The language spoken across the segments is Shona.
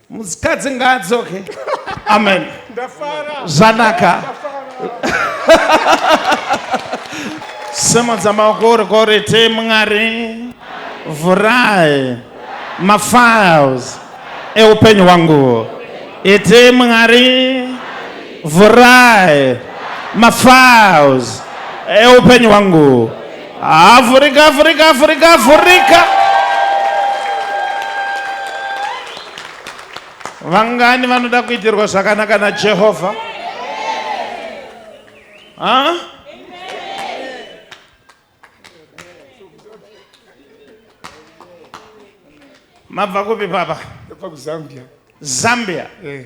mukadzi ngaadzoke amen zvanaka simudza maoko uri koriti mwari vhurai mafiles eupenyu hwangu iti mwari vhurai mafiles eupenyu hwangu Afurika, Afurika, Afurika, Afurika. Vangani vanoda kuitirwa zvakanaka na Jehovha? Ha? Mabva kupi papa? Ndabva kuZambia. Zambia. Eh.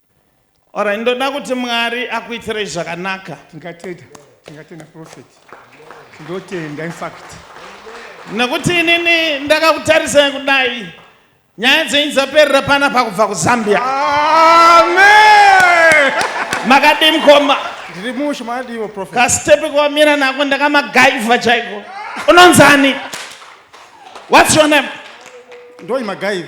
Ora ndoda kuti Mwari akuitirei zvakanaka. Tingatenda, tingatenda prophet. Ndotenda in fact. Nekuti inini ndakakutarisai kudai. Nyaya dzenyu dzaperera pana pakubva kuZambia. Amen. Makadii mukoma? Ndiri mushe makadiiwo prophet. Kastepe kwamira nako ndakamagaiva chaiko. Unonzani? What's your name? Ndoi magaiva.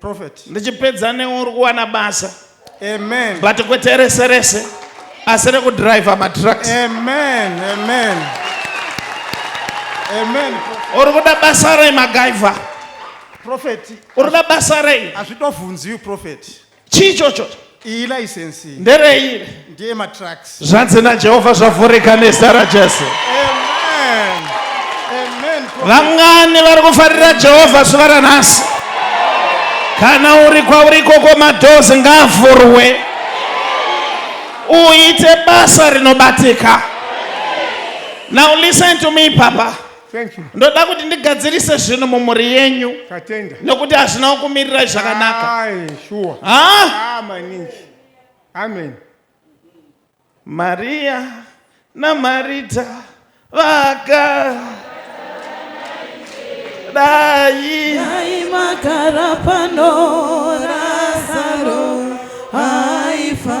Prophet. ndichipedza newe uri kuwana basa Amen. but kwete rese rese asi rekudriver matrucks Amen. Amen. Amen. Prophet. uri kuda basa rei magaiva Prophet. uri kuda basa rei Hazvitovhunziwi prophet. chii ichocho iyi license iyi nderei ndiye matracks zvanzi najehovha zvavhurika nezita rajesu vangani vari kufarira jehovha zuva ranhasi kana uri kwauri ikoko madhozi ngaavhurwe uite basa rinobatika now listen to me papa Thank you. ndoda kuti ndigadzirise zvinhu mumhuri yenyu Tatenda. nekuti hazvina kukumirirai zvakanaka Aye, sure. ha Ah, maningi. Amen. mariya namarita vaka dai Dai magara pano Razaro aifa.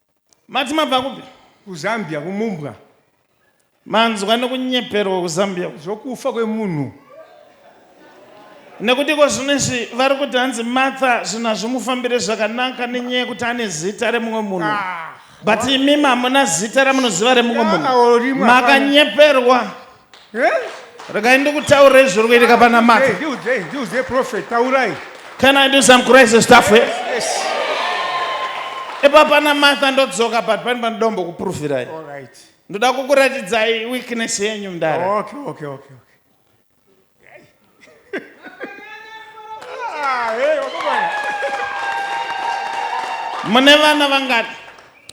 Mati mabva kupi? KuZambia kumumbwa. Manzwa nekunyeperwa kuZambia uko. Zvokufa kwemunhu. Nekuti iko zvino izvi vari kuti hanzi Martha zvinhu hazvimufambire zvakanaka nenyaya yekuti ane zita remumwe munhu. Ah, But imimi hamuna zita ramunoziva remumwe Ah, munhu. rimwe hapana. Makanyeperwa. regai ndikutaurira izvi zviri kuitika pana mata can i do some crazy stuff here yes. epa pana matha ndodzoka but pane panodombo kupurufirai ndoda kukuratidzai weakness yenyu mdara okay, okay, okay, okay. mune vana vangani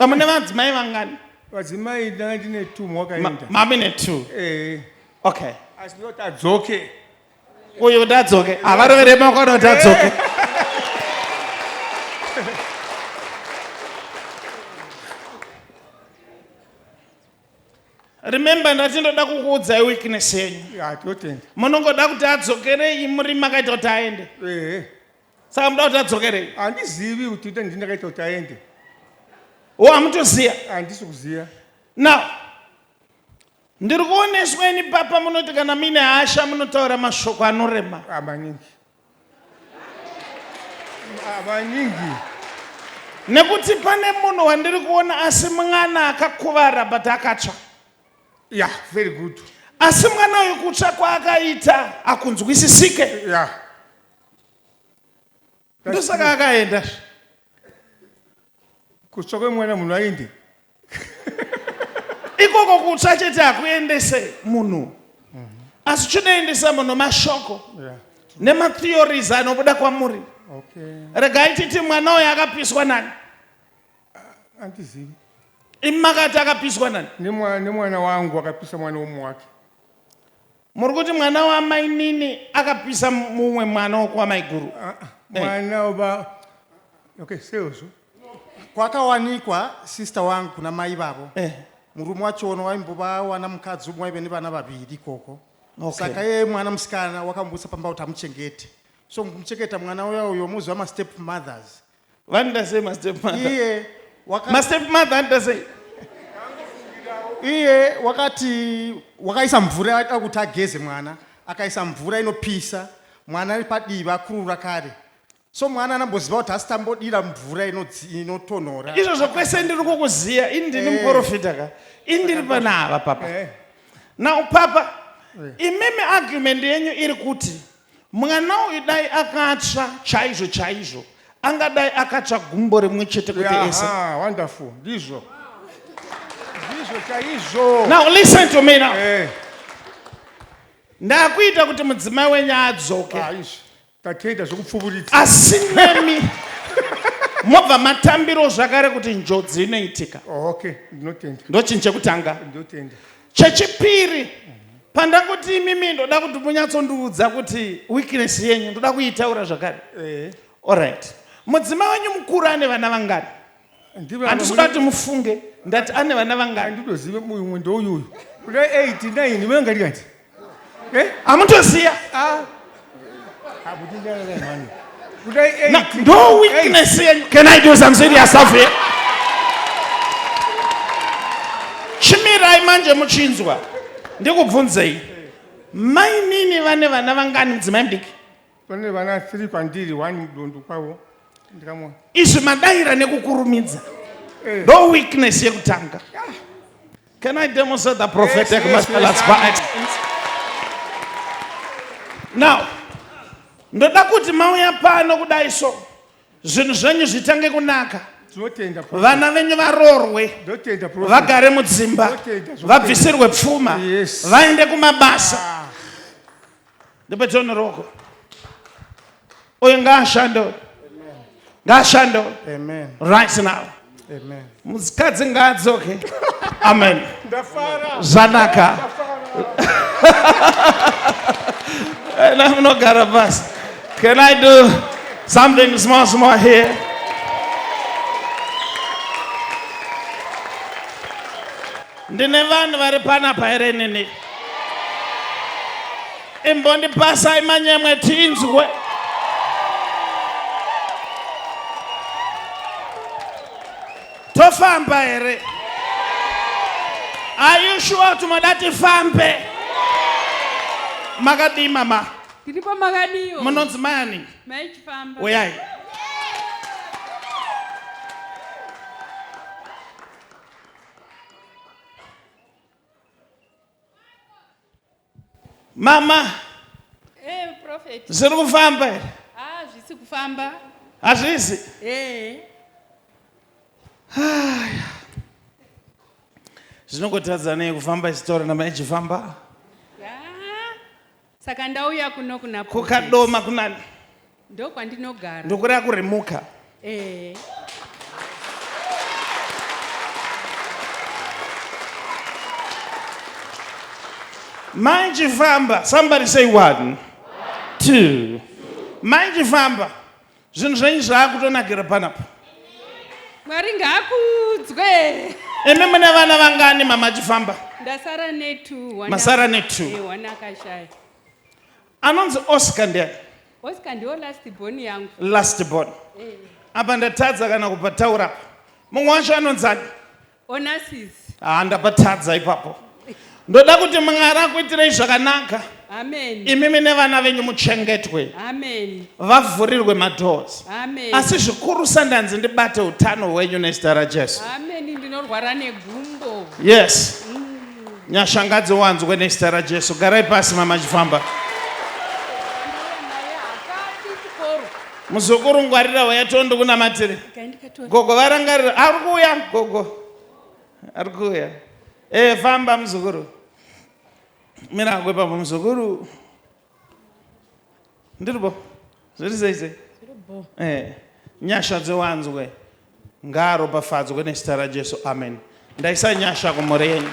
ah, mune vadzimai vangani vadzimai ndanga ndine two mwakaenda mami ne two eh. okay asi ndoti adzoke uyu kuti adzoke havarovere maoko anoti adzoke eh. remember ndati ndoda kukuudzai weakness yenyu ya totenda munongoda kuti adzokerei muri makaita kuti aende ehe saka muda kuti adzokerei handizivi kuti ita ndini ndakaita kuti aende wo hamutoziya handisi kuziva now ndiri kuoneswa ini papa munoti kana muine hasha munotaura mashoko anorema Ah, maningi vanyingi nekuti pane munhu wandiri kuona asi mwana akakuvara but akatsva yeah very good asi mwana uyu kutsva kwaakaita akunzwisisike yeah ndosaka akaenda Kutsva kwemwana munhu ainde. ikoko kutsva chete hakuendese munhu asi chinoendesa munhu mashoko Yeah. nematheories anobuda kwamuri Okay. regai titi mwana uyo akapiswa nani Andizivi. imi makati akapiswa nani Nemwa- Nemwana wangu akapisa mwana womwe wake. Muri kuti mwana wamainini akapisa mumwe mwana wokwamaiguru? Ah, ah, Eh. mwana waba okay seuzu kwakawanikwa sister wangu kuna mai vavo Eh. murume wachono waimbova wana mukadzi umwe waive nevana vaviri ikoko Okay. saka yeye mwana musikana wakamubudisa pamba kuti amuchengete so kumuchengeta mwana uya uyo moziva mastep mothers vanoita sei mastepmother iye waka, mastepmother anoita sei iye wakati wakaisa mvura aida kuti ageze mwana akaisa mvura inopisa mwana ari padivi vakurura kare so mwana anamboziva kuti asi tambodira mvura inodzi- inotonhora izvozvo kwese ndiri kukuziya ini ndini Eh. muporofita ka ini ndiri panava papa Eh, now papa imimi argument yenyu iri kuti Mwana uyu dai akatsva chaizvo chaizvo angadai akatsva gumbo rimwe chete kuti ese. Yaha, wonderful. Ndizvo. Ndizvo chaizvo. Now listen to me now. Eh, Ndakuita kuti mudzimai wenyu adzoke. ah, izvi. Tatenda zvekupfuburitsa. Asi nemi mobva matambiro zvakare kuti njodzi inoitika. Oh, okay, ndinotenda. Ndochinhu chekutanga. Ndinotenda. Chechipiri, pandangoti imimi ndoda kuti munyatsondiudza kuti weakness yenyu ndoda kuitaura zvakare. Eh. Alright. Mudzima wenyu mukuru ane vana vangani? Handisi kuda kuti mufunge ndati ane vana vangani? Handitozive mumwe ndouyu uyu. Kuda 8 9 munenge ndikati. Eh? Amutoziya. Ah. no weakness yenyu can i do some serious stuff here chimirai manje muchinzwa ndikubvunzei mainini vane vana vangani mudzimai mudiki vane vana three kwandiri one mudundu kwavo ndikamwa izvi madaira nekukurumidza eh. no weakness yekutanga yeah. Can I demonstrate the prophetic yes, yes, yes, by excellence? Now, ndoda kuti mauya pano kudai so zvinhu zvenyu zvitange kunaka vana venyu varoorwe vagare mudzimba vabvisirwe pfuma vaende kumabasa ah. Ndipe John ruoko. Uyu ngaashande uyu. Ngaashande uyu. Amen. Right now. Amen. Mukadzi ngaadzoke. Amen. Ndafara. Zvanaka. And I'm not gonna bust. Can I do something small, small here? Ndine vanhu vari panapa here inini? Imbondipasai manyemwe tinzwe. Tofamba here? Are you sure kuti moda tifambe? Makadii mama? Tiripo makadiwo. Munonzi mani? Mai Chifamba. Uyai. mama hey, eh, prophet zviri kufamba here ah zvisi kufamba hazvizi hey. Eh. haya zvinongotadzanei kufamba isitori namai chifamba Saka ndauya kuno kuna Prophet. kukadoma kunani Ndokwandinogara. ndokureva kurimuka Eh. mai chifamba somebody say one two mai chifamba Zvinhu zvenyu zvakutonakira panapa. Mwari ngaakudzwe. Imi mune vana vangani mama chifamba? Ndasara ne two. one Masara ak- ne two. Eh, one akashaya. Anonzi Oscar ndiani? Oscar ndiwo last born yangu. Last born. Eh, Apa ndatadza kana kupataura. Mumwe wacho anonzi ani? Onassis. Ah, ndabatadza ipapo. Ndoda kuti Mwari akuitirei zvakanaka. Amen. Imimi nevana venyu muchengetwe. Amen. Vavhurirwe madoors. Amen. Asi zvikuru sandanzi ndibate utano hwenyu nezita raJesu. Amen. Ndinorwara negumbo. Yes. Mm. Nyasha ngadziwanzwe nezita raJesu. Garai pasi mama chifamba. Muzukuru ngwarira waya tondo kunamatire. Kaindika Gogo varangarira ari kuuya gogo ari kuuya e famba muzukuru mira hako ipapo muzukuru ndiripo zviri sei sei e nyasha dziwanzwe ngaaropafadzwe nezita rajesu amen ndaisa nyasha kumhuri yenyu